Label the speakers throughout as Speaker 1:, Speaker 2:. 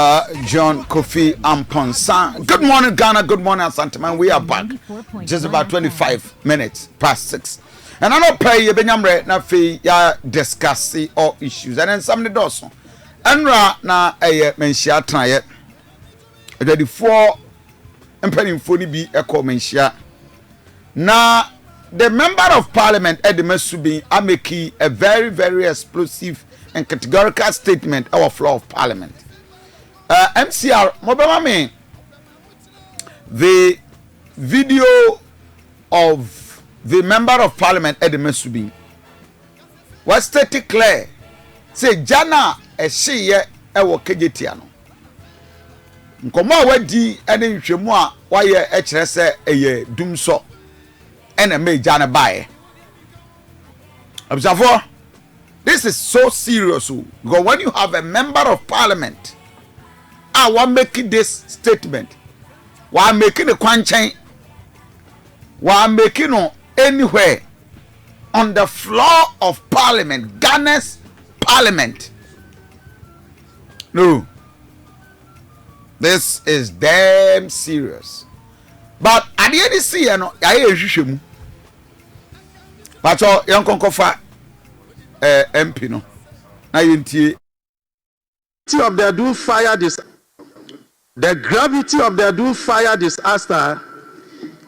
Speaker 1: Uh, John Kofi Amponsah. Good morning, Ghana. Good morning, Asanteman. We are back. Just about 25 minutes past 6. And I know pay ye benyamre na fe ya discuss all issues. And then some doso. And ra na eye menshia try it. Ready for empenyimfo ni bi ekɔ menshia. Na the member of parliament de ma Subin a meki a very very explosive and categorical statement ɛwɔ floor of parliament. Uh, eh, MCR, mobɛma me the video of the member of parliament de ma Subin. Wɔastate clear sɛ gya no a ɛhyeeɛ ɛwɔ kegyetia no Nkɔmmɔ a wadi ne nhwehwɛmu a wayɛ kyerɛ sɛ ɛyɛ dumsɔ na ɛma agya no baeɛ. Abusuafoɔ, this is so serious o because when you have a member of parliament a wa make this statement, wa make ne kwankyɛn, wa make no anywhere on the floor of parliament, Ghana's parliament. No. This is damn serious. But adeɛ de si yɛ no yɛayɛ yɛn hwehwɛ mu. Patɔ yɛn nkɔnkɔfa ɛɛ eh, MP no na yɛn tie. Gravity of the Adum fire
Speaker 2: dis The gravity of the Adum fire disaster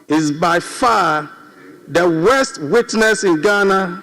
Speaker 2: is by far the worst witnessed in Ghana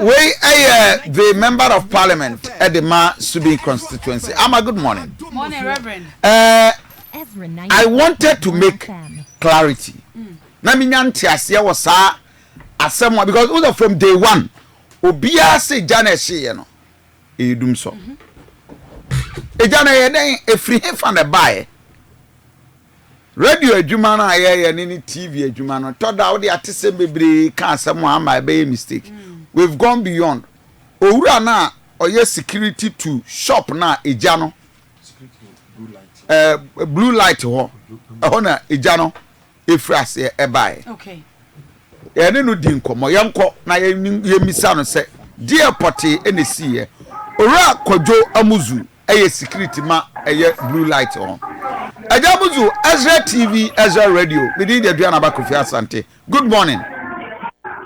Speaker 1: wei ɛyɛ the member of parliament ɛde ma subi constituency ama good morning
Speaker 3: uh,
Speaker 1: i wanted to make clarity na mi nya nteaseɛ wɔ saa asɛm a because wosɛ from day one obiara se gya na ɛhyeeɛ no ɛyɛ dum sɔ ɛgya na ɛyɛ dɛn ɛfiri hefa na ɛbaeɛ Radio adwuma no a yɛyɛ ne ne TV adwuma no, tɔ da wode atesɛm bebree ka asɛm a ama ɛbɛyɛ mistake. Mm. We've gone beyond. Owura no a ɔyɛ security to shop no a egya no eh, blue light hɔ ɛhɔ na egya no efiri aseɛ ɛbaeɛ. Okay.
Speaker 3: yɛne
Speaker 1: no di nkɔmmɔ yɛnkɔ na yɛmmisa no sɛ deɛ pɔtee ɛna esiiɛ owura kwadwo amuzu ɛyɛ security ma ɛyɛ blue light hɔ ɛgya mo zu Ezra TV Ezra radio me din de Aduane Aba Kofi Asante good morning.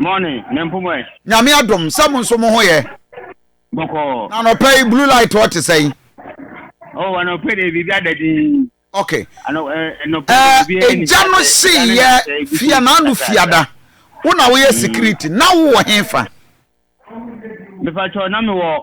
Speaker 4: morning ne mpomɔ ɛ. nyame adom sɛ
Speaker 1: mo nso mo ho yɛ. bɔkɔɔ.
Speaker 4: na anɔpɛ yi blue
Speaker 1: light hɔ te sɛn. ɔwɔ
Speaker 4: anɔpɛ de biribi ada din. ok ɛgya no seyɛ
Speaker 1: fia na ano fiada wo na woyɛ security na wowɔ hefa.
Speaker 4: mefa kyɛw na mewɔ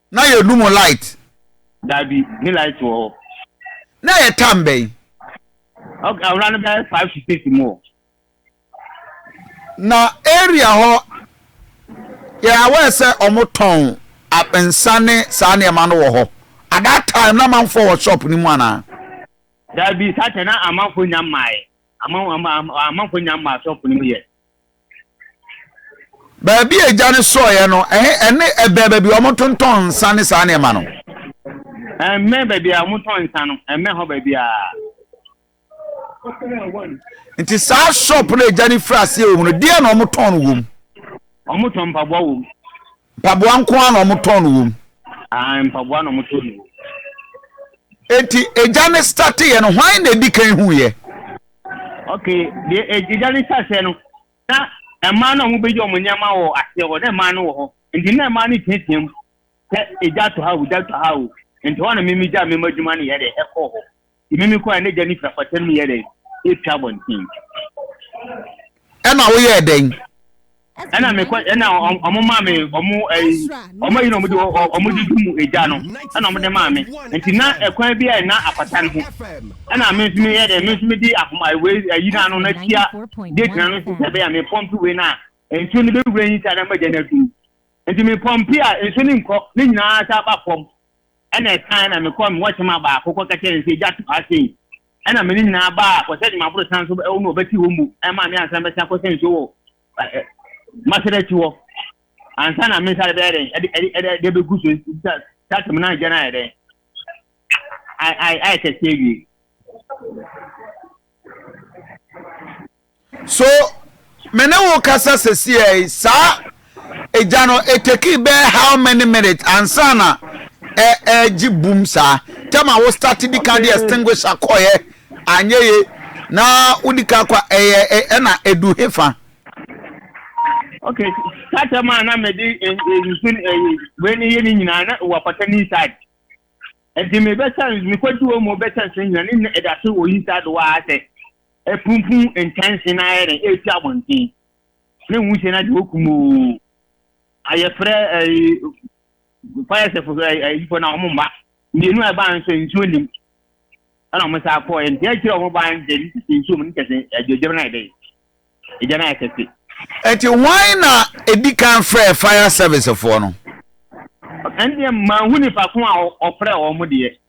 Speaker 1: na yɛnu mu light. Dabi,
Speaker 4: ne light wɔ hɔ. Na ɛyɛ
Speaker 1: tam bɛn? Ok,
Speaker 4: awura no bɛyɛ five to six mu o.
Speaker 1: Na area hɔ, yɛ aware sɛ wɔn tɔn nsa ne saa nneɛma no wɔ hɔ. At that time, na amanfoɔ wɔ shop no mu anaa? Dabi,
Speaker 4: saa kyɛ na amanfoɔ nya mmaeɛ. Aman, aman, amanfoɔ nya mmaa shop no mu yɛ.
Speaker 1: baabi a agya no sɔeɛ no ɛne ɛbɛn baabi a wɔtontɔn nsa ne saa nneɛma no. ɛmmɛn
Speaker 4: baabi a wɔtɔn nsa no ɛmmɛn hɔ baabi a.
Speaker 1: nti saa shop no agya no firi aseɛ wɔ mu no deɛ na wɔtɔn no wɔ mu. wɔtɔn
Speaker 4: mpaboa wɔ mu. Mpaboa nko
Speaker 1: ara na wɔtɔn no wom. Aane mpaboa na
Speaker 4: wɔtɔn no wom.
Speaker 1: Enti egya no starte yɛ no hwan na edi kan hu yɛ? Ok
Speaker 4: deɛ egya no starte yɛ no na mmaa no a wɔn bɛgye wɔn nneɛma wɔ aseɛ hɔ na mmaa no wɔ hɔ nti na mmaa no teatea mu sɛ egya tɔ ha o egya tɔ ha o nti hɔ na mimi gya mema adwuma no yɛ dɛ ɛkɔ hɔ. Emi me kɔ a n'egya ne firafoɔ atam no yɛɛ dɛn? Etwa abɔnten.
Speaker 1: Ɛna woyɛɛ dɛn? Ɛna
Speaker 4: me kɔ ɛna ɔmo maa me ɔmo ɛyi ɔmo ayi na ɔmo de ɔmo de dum egya no ɛna ɔmo de maa me nti na ɛkwan bi a na apata no ho ɛna me nso me yɛ dɛ me nso me di ahoma wei ayi na ano na tia gate na no nso sɛ bɛyɛ me pɔmpi wei na nsuo no bɛwura yi sɛ adama gya no adum nti me pɔmpi a nsuo no nkɔ ne nyinaa sɛ aba fam Ɛnna ɛkae na mekɔɔ me wɔkyema baako kɔka kyerɛɛ no sɛ, Egya to ha sei. Ɛnna me ne nyinaa baa kɔhyɛne maboro san so wɔ bɛte hɔ mu maa me ansa mɛsan kɔhyɛ nsuo wɔ Masada akyi hɔ ansa na me nsa de bɛyɛ dɛn ɛde ɛde ɛde de bɛgu so sɛ saa tɛm na agya no ayɛ dɛn ayɛ kɛseɛ wie.
Speaker 1: So me ne wo kasa sɛsia yi? Saa egya no etekii bɛɛ how many minutes ansa na ɛ ɛɛgye bum saa? Tɛm a wo start di kan de extinguisher kɔeɛ anyɛ ye na wo di kan kɔ ɛyɛ ɛ ɛna edu he fa?
Speaker 4: Ok, saa tɛm a na me de ɛ ɛ nsu no ɛyi wei no yɛ ne nyinaa na wɔ apata ne inside. Ɛde me bɛsa me kɔ di wɔ mu bɛsa nsu nyinaa ne nyinaa ɛda so wɔ inside hɔ ara sɛ Apumpum nkyɛnse no ayɛ dɛn ɛresi abɔnten? Ne nwusie no agye okum oo, ayɛfrɛ ɛyi fire sɛfo ayifo na wɔn mma mmienu a ɛbaa nso nsuo nim ɛna wɔn saa kɔɔ nti akyire wɔn baa nkyɛ ne sisi nsuo mu ne kyɛ sɛ agyagya no ayɛ dɛn agya no ayɛ kɛse. Ɛti hwan
Speaker 1: na ɛdi kan frɛɛ fire service foɔ no? Ɛndeɛ
Speaker 4: manhu nipa ko a ɔfrɛɛ wɔn deɛ.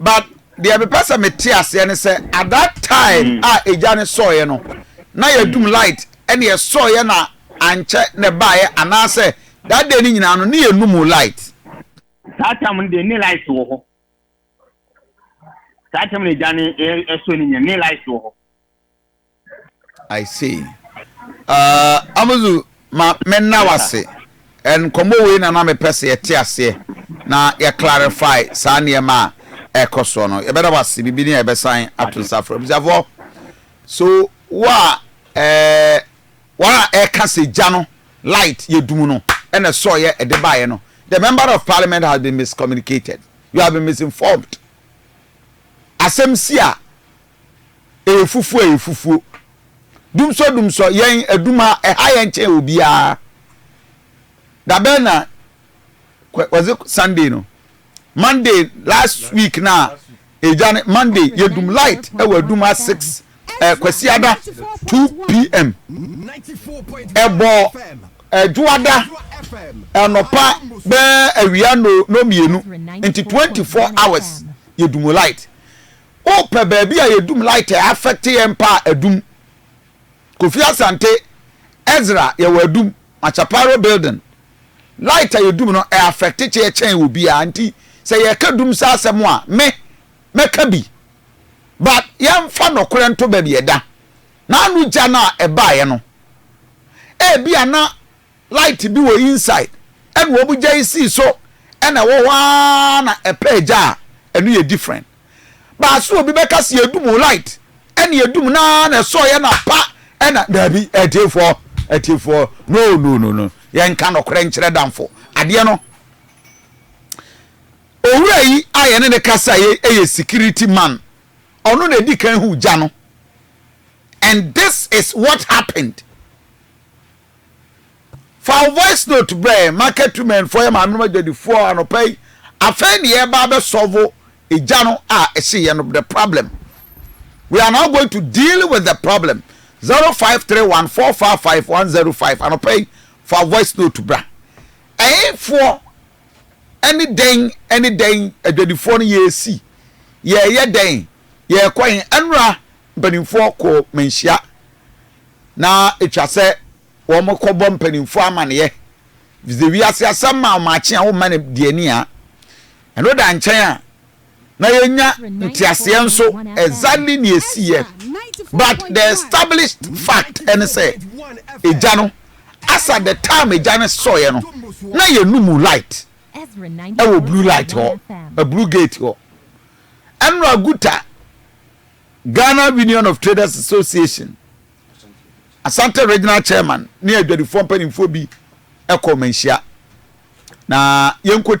Speaker 1: but deɛ mepɛ sɛ mete aseɛ ne sɛ at that time mm. a egya ne sɔɔeɛ no na yɛdum mm. light ɛne ɛsɔɔeɛ na ankyɛ na ɛbaeɛ anaasɛ that day ne nyinaa no ne yɛnum light saa tam
Speaker 4: no deɛ ne light wɔ hɔ saa tam no egya ne ɛsɔ ne nyɛ ne light
Speaker 1: wɔ hɔ I see uh, Amuzu ma me na wase nkɔmmɔ wei na na mepɛ sɛ yɛte aseɛ na yɛ clarify saa nneɛma a ɛkɔ soɔ no yɛbɛda wase biribi ne a yɛbɛsan ato nsa frɛ abusuafoɔ so wo a ɛɛ wɔn a ɛka sɛ gya no light yɛ dum no ɛna sɔɔyɛ ɛde baeɛ no the member of parliament has been miscommunicated you have been misinformed asɛm si a Ɛyɛ fufuo ɛyɛ fufuo. Dumsɔ dumsɔ yɛn adum ha ɛha yɛn kyɛn obiara. Dabɛn na was it Sunday no Monday last week na ɛgya ne Monday yɛdum light ɛwɔ adum ha six eh, Kwasiada two pm ɛbɔ ɛdwoada ɛnɔpa bɛɛ awia no no mmienu nti twenty four hours yɛdum light. Wopɛ baabi a yɛdum light a affect yɛn mpa a adum. Kofi Asante, Ezra yɛwɔ adum, Machaparo building. Light a yɛdum no ɛ affect kyeɛ kyɛn obiara nti sɛ yɛreka dum saa asɛm a me mɛka bi. But yɛmfa nɔkorɛ nto baabi ɛda. Naanu gya no a ɛbaeɛ no ebia na Light bi wɔ inside ɛna wɔn gya yi sii so ɛna ɛwɔ hɔ aa na ɛpɛ ɛgya a ɛno yɛ different but so obi bɛka sɛ yɛdum o light ɛna yɛdum no aa na ɛsɔɔ yɛ na pa ɛna daabi atiefoɔ atiefoɔ no no no no yɛnka nɔkorɛ nkyerɛ damfo adeɛ no owura yi a yɛne ne kasa yɛ ɛyɛ security man ɔno na ɛdi kan hu gya no and this is what happened. Fa wo voice note brɛ yɛn market women foɔ yɛ maame nom adwadifoɔ anɔpa yi afei ne yɛba abɛ solve egya no a ɛhye yɛ no the problem we are now going to deal with the problem zero five three one four five five one zero five anɔpa yi fa voice note bra ɛnfoɔ ɛne dɛn ɛne dɛn adwadifoɔ no yɛsi yɛyɛ dɛn yɛkɔ yɛn ɛnora mpanimfoɔ kɔ manhyia na etwa sɛ wɔkɔbɔ mpanimfoɔ amaneɛ ɛfiri sɛ wiase asɛm ma ɔmaakye a womma no deɛ ani a ɛno da nkyɛn a na yɛnya nteaseɛ nso exactly ne ɛsiiɛ but the established fact ɛne sɛ ɛgya no asa the time ɛgya no sɔeɛ no na yɛnu mu light ɛwɔ blue light hɔ a blue gate hɔ ɛnora guta Ghana Union of Traders Association Asante Regional Chairman ne adwadifoɔ mpanimfoɔ bi kɔɔ manhyia na yɛnkɔ